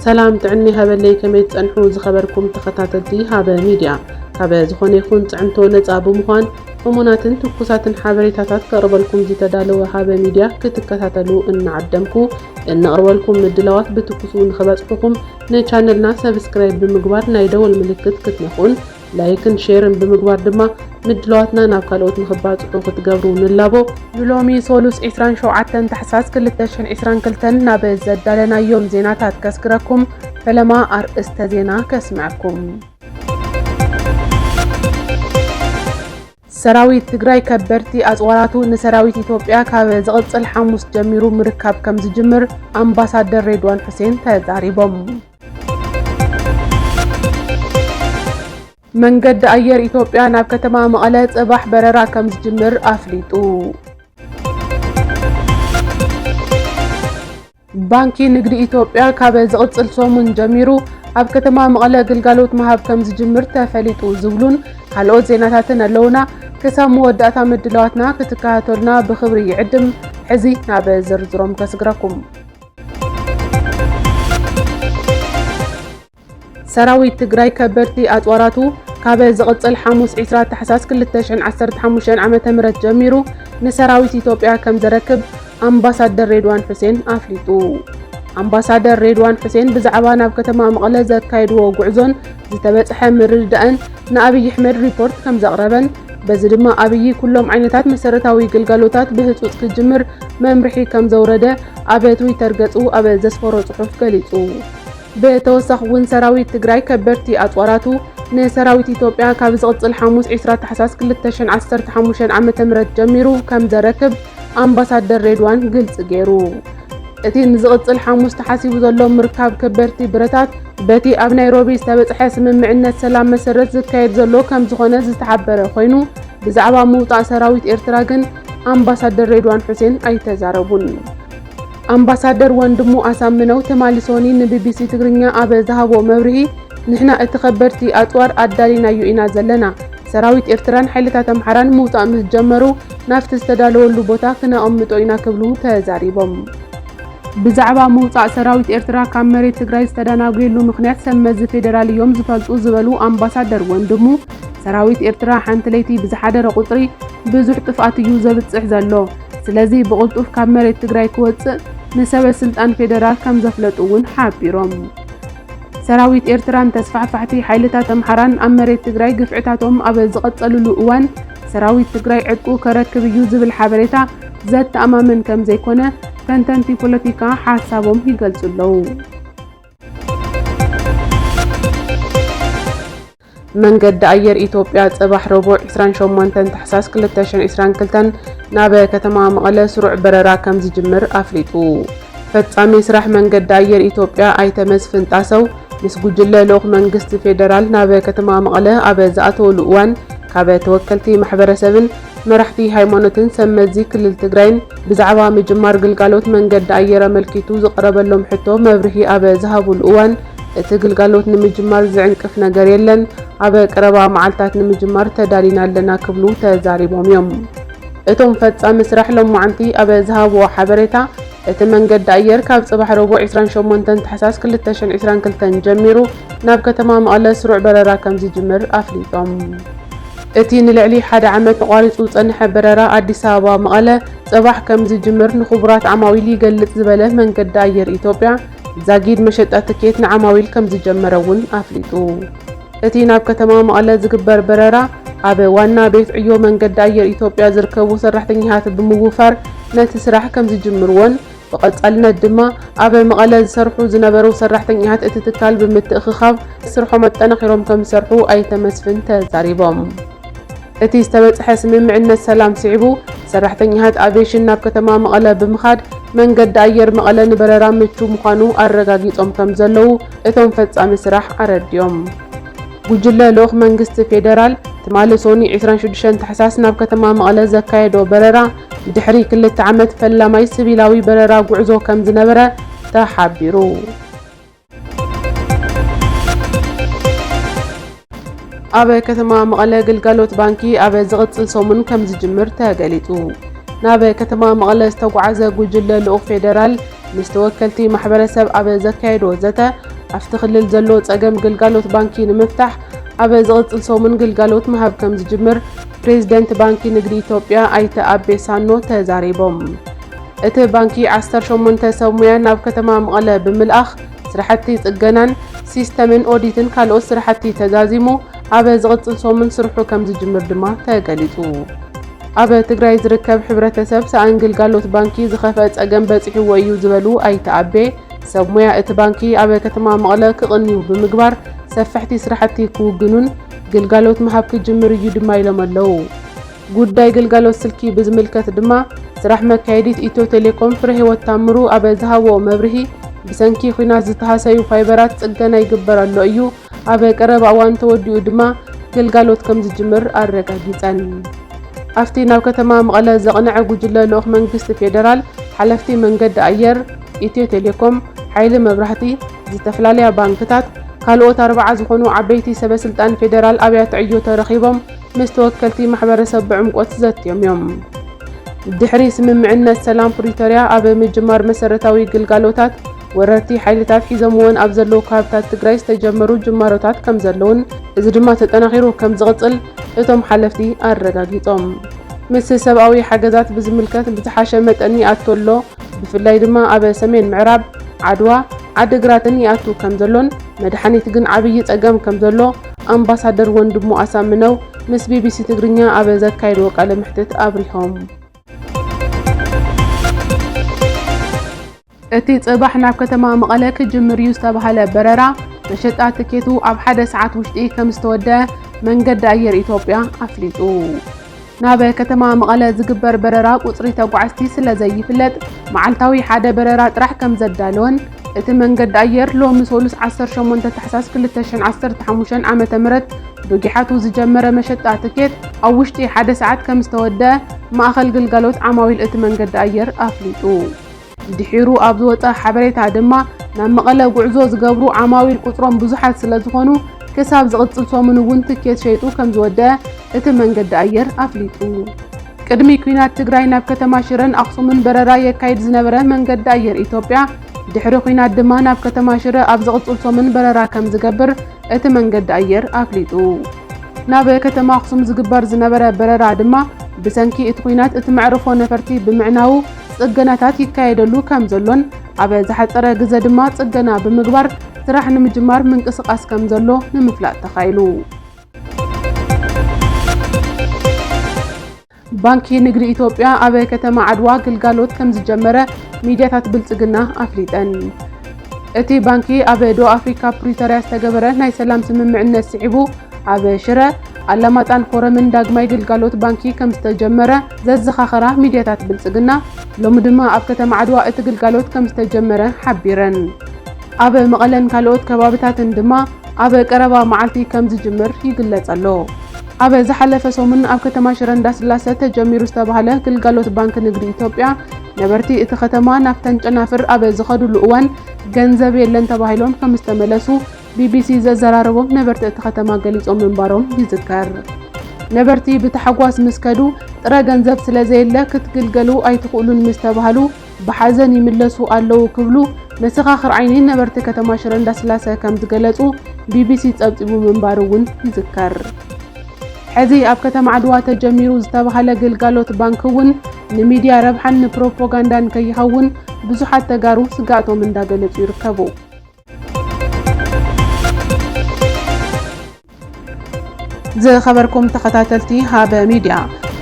ሰላም ጥዕና ይሃበለይ ከመይ ትጸንሑ ዝኸበርኩም ተኸታተልቲ ሃበ ሚድያ ካበ ዝኾነ ይኹን ጽዕንቶ ነጻ ብምዃን እሙናትን ትኩሳትን ሓበሬታታት ከቕርበልኩም ዝተዳለወ ሃበ ሚድያ ክትከታተሉ እናዓደምኩ እነቕርበልኩም ምድላዋት ብትኩሱ ንኽበጽሑኹም ንቻነልና ሰብስክራይብ ብምግባር ናይ ደወል ምልክት ክትነኹን ላይክን ሼርን ብምግባር ድማ ምድላዋትና ናብ ካልኦት ንኽባጽሑ ክትገብሩ ንላቦ። ንሎሚ ሶሉስ ዕስራን ሸውዓተን ታሕሳስ ክልተ ሽሕን ዕስራን ክልተን ናብ ዘዳለናዮም ዜናታት ከስግረኩም፣ ፈለማ ኣርእስተ ዜና ከስምዐኩም። ሰራዊት ትግራይ ከበድቲ ኣፅዋራቱ ንሰራዊት ኢትዮጵያ ካብ ዝቕፅል ሓሙስ ጀሚሩ ምርካብ ከምዝጅምር ኣምባሳደር ሬድዋን ሑሴን ተዛሪቦም። መንገዲ ኣየር ኢትዮጵያ ናብ ከተማ መቐለ ፅባሕ በረራ ከም ዝጅምር ኣፍሊጡ። ባንኪ ንግዲ ኢትዮጵያ ካብ ዝቕፅል ሰሙን ጀሚሩ ኣብ ከተማ መቐለ ግልጋሎት ምሃብ ከም ዝጅምር ተፈሊጡ ዝብሉን ካልኦት ዜናታትን ኣለውና። ክሳብ መወዳእታ ምድላዋትና ክትከታተሉና ብኽብሪ ይዕድም። ሕዚ ናብ ዝርዝሮም ከስግረኩም። ሰራዊት ትግራይ ከበድቲ ኣፅዋራቱ ካበ ዝቕፅል ሓሙስ 20 ታሕሳስ 2015 ዓ.ም ጀሚሩ ንሰራዊት ኢትዮጵያ ከም ዘረክብ ኣምባሳደር ሬድዋን ሑሴን ኣፍሊጡ። ኣምባሳደር ሬድዋን ሑሴን ብዛዕባ ናብ ከተማ መቐለ ዘካየድዎ ጉዕዞን ዝተበፅሐ ምርድዳእን ንኣብይ ኣሕመድ ሪፖርት ከምዘቕረበን በዚ ድማ ኣብይ ኩሎም ዓይነታት መሰረታዊ ግልጋሎታት ብህፁፅ ክጅምር መምርሒ ከምዘውረደ ኣብ ትዊተር ገፁ ኣብ ዘስፈሮ ፅሑፍ ገሊፁ። ብተወሳኺ እውን ሰራዊት ትግራይ ከበድቲ ኣፅዋራቱ ንሰራዊት ኢትዮጵያ ካብ ዝቕፅል ሓሙስ ዕስራ ታሕሳስ ክልተ ሽሕን ዓሰርተ ሓሙሽተን ዓመተ ምህረት ጀሚሩ ከምዘረክብ ኣምባሳደር ሬድዋን ግልፂ ገይሩ። እቲ ንዝቕጽል ሓሙስ ተሓሲቡ ዘሎ ምርካብ ከበድቲ ብረታት በቲ ኣብ ናይሮቢ ዝተበጽሐ ስምምዕነት ሰላም መሰረት ዝካየድ ዘሎ ከም ዝኾነ ዝተሓበረ ኮይኑ ብዛዕባ ምውጻእ ሰራዊት ኤርትራ ግን ኣምባሳደር ሬድዋን ሑሴን ኣይተዛረቡን። ኣምባሳደር ወንድሙ ኣሳምነው ትማሊ ሶኒ ንቢቢሲ ትግርኛ ኣብ ዝሃቦ መብርሂ ንሕና እቲ ከበድቲ ኣጽዋር ኣዳሊናዮ ኢና ዘለና፣ ሰራዊት ኤርትራን ሓይልታት ኣምሓራን ምውጻእ ምስ ጀመሩ ናብቲ ዝተዳለወሉ ቦታ ክነቐምጦ ኢና ክብሉ ተዛሪቦም። ብዛዕባ ምውፃእ ሰራዊት ኤርትራ ካብ መሬት ትግራይ ዝተዳናጉየሉ ምኽንያት ሰብ መዚ ፌደራል እዮም ዝፈልጡ ዝበሉ ኣምባሳደር ወንድሙ፣ ሰራዊት ኤርትራ ሓንቲ ለይቲ ብዝሓደረ ቁፅሪ ብዙሕ ጥፍኣት እዩ ዘብፅሕ ዘሎ። ስለዚ ብቕልጡፍ ካብ መሬት ትግራይ ክወፅእ ንሰበ ስልጣን ፌደራል ከምዘፍለጡ እውን ሓቢሮም። ሰራዊት ኤርትራን ተስፋሕፋሕቲ ሓይልታት ኣምሓራን ኣብ መሬት ትግራይ ግፍዕታቶም ኣብ ዝቐፀልሉ እዋን ሰራዊት ትግራይ ዕጥቁ ከረክብ እዩ ዝብል ሓበሬታ ዘተኣማምን ከምዘይኮነ ተንተንቲ ፖለቲካ ሓሳቦም ይገልጹ ኣለዉ። መንገዲ ኣየር ኢትዮጵያ ጽባሕ ረቡዕ 28 ታሕሳስ 2022 ናብ ከተማ መቐለ ስሩዕ በረራ ከም ዝጅምር ኣፍሊጡ። ፈፃሚ ስራሕ መንገዲ ኣየር ኢትዮጵያ ኣይተ መስፍን ጣሰው ምስ ጉጅለ ልኡኽ መንግስቲ ፌዴራል ናብ ከተማ መቐለ ኣብ ዝኣተውሉ እዋን ካብ ተወከልቲ ማሕበረሰብን መራሕቲ ሃይማኖትን ሰብ መዚ ክልል ትግራይን ብዛዕባ ምጅማር ግልጋሎት መንገዲ ኣየር ኣመልኪቱ ዝቐረበሎም ሕቶ መብርሂ ኣብ ዝሃቡሉ እዋን እቲ ግልጋሎት ንምጅማር ዝዕንቅፍ ነገር የለን፣ ኣብ ቀረባ መዓልታት ንምጅማር ተዳሊና ኣለና ክብሉ ተዛሪቦም እዮም። እቶም ፈፃሚ ስራሕ ሎማዕንቲ ኣብ ዝሃብዎ ሓበሬታ፣ እቲ መንገዲ ኣየር ካብ ፅባሕ ረቡዕ ዕስራን ሸሞንተን ታሕሳስ ክልተ ሽሕን ዕስራን ክልተን ጀሚሩ ናብ ከተማ መቐለ ስሩዕ በረራ ከምዝጅምር ኣፍሊጦም። እቲ ንልዕሊ ሓደ ዓመት ተቋሪፁ ዝፀንሐ በረራ ኣዲስ ኣበባ መቐለ ፅባሕ ከምዝጅምር ንኽቡራት ዓማዊል ይገልፅ ዝበለ መንገዲ ኣየር ኢትዮጵያ፣ ዛጊድ መሸጣ ትኬት ንዓማዊል ከምዝጀመረ እውን ኣፍሊጡ። እቲ ናብ ከተማ መቐለ ዝግበር በረራ ኣብ ዋና ቤት ዕዮ መንገዲ ኣየር ኢትዮጵያ ዝርከቡ ሰራሕተኛታት ብምውፋር ነቲ ስራሕ ከምዝጅምርዎን ብቐፃልነት ድማ ኣብ መቐለ ዝሰርሑ ዝነበሩ ሰራሕተኛታት እቲ ትካል ብምትእኽኻብ ስርሖም ኣጠናኺሮም ከምዝሰርሑ ኣይተ መስፍን ተዛሪቦም። እቲ ዝተበፅሐ ስምምዕነት ሰላም ስዒቡ ሰራሕተኛታት ኣቪዬሽን ናብ ከተማ መቐለ ብምኻድ መንገዲ ኣየር መቐለ ንበረራ ምቹው ምዃኑ ኣረጋጊፆም ከምዘለዉ እቶም ፈፃሚ ስራሕ ኣረዲኦም። ጉጅለ ልኡኽ መንግስቲ ፌደራል ትማሊ ሶኑይ ዕስራን ሽዱሽተን ታሕሳስ ናብ ከተማ መቐለ ዘካየዶ በረራ ድሕሪ ክልተ ዓመት ፈላማይ ስቪላዊ በረራ ጉዕዞ ከምዝነበረ ተሓቢሩ። ኣብ ከተማ መቐለ ግልጋሎት ባንኪ ኣብ ዝቕፅል ሰሙን ከምዝጅምር ተገሊፁ። ናብ ከተማ መቐለ ዝተጓዓዘ ጉጅለ ልኡኽ ፌዴራል ምስ ተወከልቲ ማሕበረሰብ ኣብ ዘካየዶ ዘተ ኣብቲ ክልል ዘሎ ፀገም ግልጋሎት ባንኪ ንምፍታሕ ኣብ ዝቕፅል ሰሙን ግልጋሎት ምሃብ ከምዝጅምር ፕሬዚደንት ባንኪ ንግዲ ኢትዮጵያ ኣይተ ኣቤ ሳኖ ተዛሪቦም። እቲ ባንኪ ዓሰርተ ሸሞንተ ሰብ ሙያ ናብ ከተማ መቐለ ብምልኣኽ ስራሕቲ ፅገናን ሲስተምን ኦዲትን ካልኦት ስራሕቲ ተዛዚሙ ኣብ ዝቕፅል ሰሙን ስርሑ ከምዝጅምር ድማ ተገሊፁ። ኣብ ትግራይ ዝርከብ ሕብረተሰብ ሰኣን ግልጋሎት ባንኪ ዝኸፍአ ፀገም በፂሕዎ እዩ ዝበሉ ኣይተ ኣቤ፣ ሰብ ሙያ እቲ ባንኪ ኣብ ከተማ መቐለ ክቕንዩ ብምግባር ሰፈሕቲ ስራሕቲ ክውግኑን ግልጋሎት ምሃብ ክጅምር እዩ ድማ ኢሎም ኣለው። ጉዳይ ግልጋሎት ስልኪ ብዝምልከት ድማ ስራሕ መካየዲት ኢትዮ ቴሌኮም ፍረህይወት ታምሩ ኣብ ዝሃቦ መብርሂ፣ ብሰንኪ ኲናት ዝተሃሰዩ ፋይበራት ፅገና ይግበር ኣሎ እዩ፣ ኣብ ቀረባ እዋን ተወዲኡ ድማ ግልጋሎት ከምዝጅምር ኣረጋጊፀን። ኣብቲ ናብ ከተማ መቐለ ዘቕነዐ ጉጅለ ልኡኽ መንግስቲ ፌዴራል፣ ሓለፍቲ መንገዲ ኣየር፣ ኢትዮ ቴሌኮም፣ ሓይሊ መብራህቲ፣ ዝተፈላለያ ባንክታት፣ ካልኦት ኣርብዓ ዝኾኑ ዓበይቲ ሰበ ስልጣን ፌዴራል ኣብያተ ዕዮ ተረኺቦም ምስ ተወከልቲ ማሕበረሰብ ብዕምቆት ዘትዮም እዮም። ድሕሪ ስምምዕነት ሰላም ፕሪቶርያ ኣብ ምጅማር መሰረታዊ ግልጋሎታት ወረርቲ ሓይልታት ሒዞምወን ኣብ ዘለዉ ከባብታት ትግራይ ዝተጀመሩ ጅማሮታት ከምዘለዉን እዚ ድማ ተጠናኺሩ ከምዝቕፅል እቶም ሓለፍቲ ኣረጋጊፆም። ምስ ሰብኣዊ ሓገዛት ብዝምልከት ብዝሓሸ መጠን ይኣቱ ኣሎ፣ ብፍላይ ድማ ኣብ ሰሜን ምዕራብ፣ ዓድዋ፣ ዓዲግራትን ይኣቱ ከምዘሎን መድሓኒት ግን ዓብዪ ፀገም ከምዘሎ ኣምባሳደር ወንድሙ ኣሳምነው ምስ ቢቢሲ ትግርኛ ኣብ ዘካየድዎ ቃለ መሕትት ኣብሪሆም። እቲ ጽባሕ ናብ ከተማ መቐለ ክጅምር እዩ ዝተባህለ በረራ መሸጣ ትኬቱ ኣብ ሓደ ሰዓት ውሽጢ ከምዝተወደአ መንገዲ ኣየር ኢትዮጵያ ኣፍሊጡ። ናብ ከተማ መቐለ ዝግበር በረራ ቁፅሪ ተጓዓዝቲ ስለዘይፍለጥ መዓልታዊ ሓደ በረራ ጥራሕ ከምዘዳለወን እቲ መንገዲ ኣየር ሎሚ ሰሉስ ዓሰርተ ሸሞንተ ታሕሳስ ክልተ ሽሕን ዓሰርተ ሓሙሽተን ዓመተ ምህረት ብጊሓቱ ዝጀመረ መሸጣ ትኬት ኣብ ውሽጢ ሓደ ሰዓት ከምዝተወደኣ ማእኸል ግልጋሎት ዓማዊል እቲ መንገዲ ኣየር ኣፍሊጡ። ድሒሩ ኣብ ዝወጸ ሓበሬታ ድማ ናብ መቐለ ጉዕዞ ዝገብሩ ዓማዊል ቁጽሮም ብዙሓት ስለዝኾኑ ክሳብ ዝቕጽል ሰሙን እውን ትኬት ሸይጡ ከምዝወደኣ እቲ መንገዲ ኣየር ኣፍሊጡ። ቅድሚ ኲናት ትግራይ ናብ ከተማ ሽረን ኣኽሱምን በረራ የካይድ ዝነበረ መንገዲ ኣየር ኢትዮጵያ ድሕሪ ኲናት ድማ ናብ ከተማ ሽረ ኣብ ዝቕጽል ሰሙን በረራ ከም ዝገብር እቲ መንገዲ ኣየር ኣፍሊጡ። ናብ ከተማ ኣኽሱም ዝግበር ዝነበረ በረራ ድማ ብሰንኪ እቲ ኲናት እቲ መዕርፎ ነፈርቲ ብምዕናዉ ጽገናታት ይካየደሉ ከም ዘሎን ኣብ ዝሓጸረ ግዘ ድማ ጽገና ብምግባር ስራሕ ንምጅማር ምንቅስቓስ ከም ዘሎ ንምፍላጥ ተኻኢሉ። ባንኪ ንግዲ ኢትዮጵያ ኣብ ከተማ ዓድዋ ግልጋሎት ከም ዝጀመረ ሚድያታት ብልጽግና ኣፍሊጠን። እቲ ባንኪ ኣብ ደቡብ ኣፍሪካ ፕሪቶርያ ዝተገበረ ናይ ሰላም ስምምዕነት ስዒቡ ኣብ ሽረ፣ ኣላማጣን ኮረምን ዳግማይ ግልጋሎት ባንኪ ከምዝተጀመረ ዘዘኻኸራ ሚድያታት ብልፅግና፣ ሎሚ ድማ ኣብ ከተማ ዓድዋ እቲ ግልጋሎት ከምዝተጀመረ ሓቢረን። ኣብ መቐለን ካልኦት ከባብታትን ድማ ኣብ ቀረባ መዓልቲ ከምዝጅምር ይግለፅ ኣሎ። ኣብ ዝሓለፈ ሰሙን ኣብ ከተማ ሽረ እንዳስላሰ ተጀሚሩ ዝተብሃለ ግልጋሎት ባንኪ ንግዲ ኢትዮጵያ ነበርቲ እቲ ከተማ ናብተን ጨናፍር ኣብ ዝኸድሉ እዋን ገንዘብ የለን ተባሂሎም ከምዝተመለሱ ቢቢሲ ዘዘራረቦም ነበርቲ እቲ ከተማ ገሊጾም ምንባሮም ይዝከር። ነበርቲ ብታሕጓስ ምስ ከዱ፣ ጥረ ገንዘብ ስለ ዘየለ ክትግልገሉ ኣይትኽእሉን ምስ ተባህሉ ብሓዘን ይምለሱ ኣለዉ ክብሉ መሰኻኽር ዓይኒ ነበርቲ ከተማ ሽረ እንዳስላሰ ከም ዝገለጹ ቢቢሲ ጸብጺቡ ምንባሩ እውን ይዝከር። ሕዚ ኣብ ከተማ ዓድዋ ተጀሚሩ ዝተባህለ ግልጋሎት ባንኪ እውን ንሚድያ ረብሓን ንፕሮፖጋንዳን ከይኸውን ብዙሓት ተጋሩ ስግኣቶም እንዳገለጹ ይርከቡ። ዝኸበርኩም ተኸታተልቲ ሃበ ሚድያ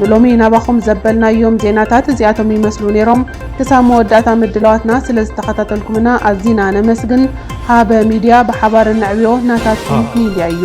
ንሎሚ ናባኹም ዘበልናዮም ዜናታት እዚኣቶም ይመስሉ ነይሮም። ክሳብ መወዳእታ ምድላዋትና ስለ ዝተኸታተልኩምና ኣዚና ነመስግን። ሃበ ሚድያ ብሓባር እነዕብዮ ናታትኩም ሚድያ እዩ።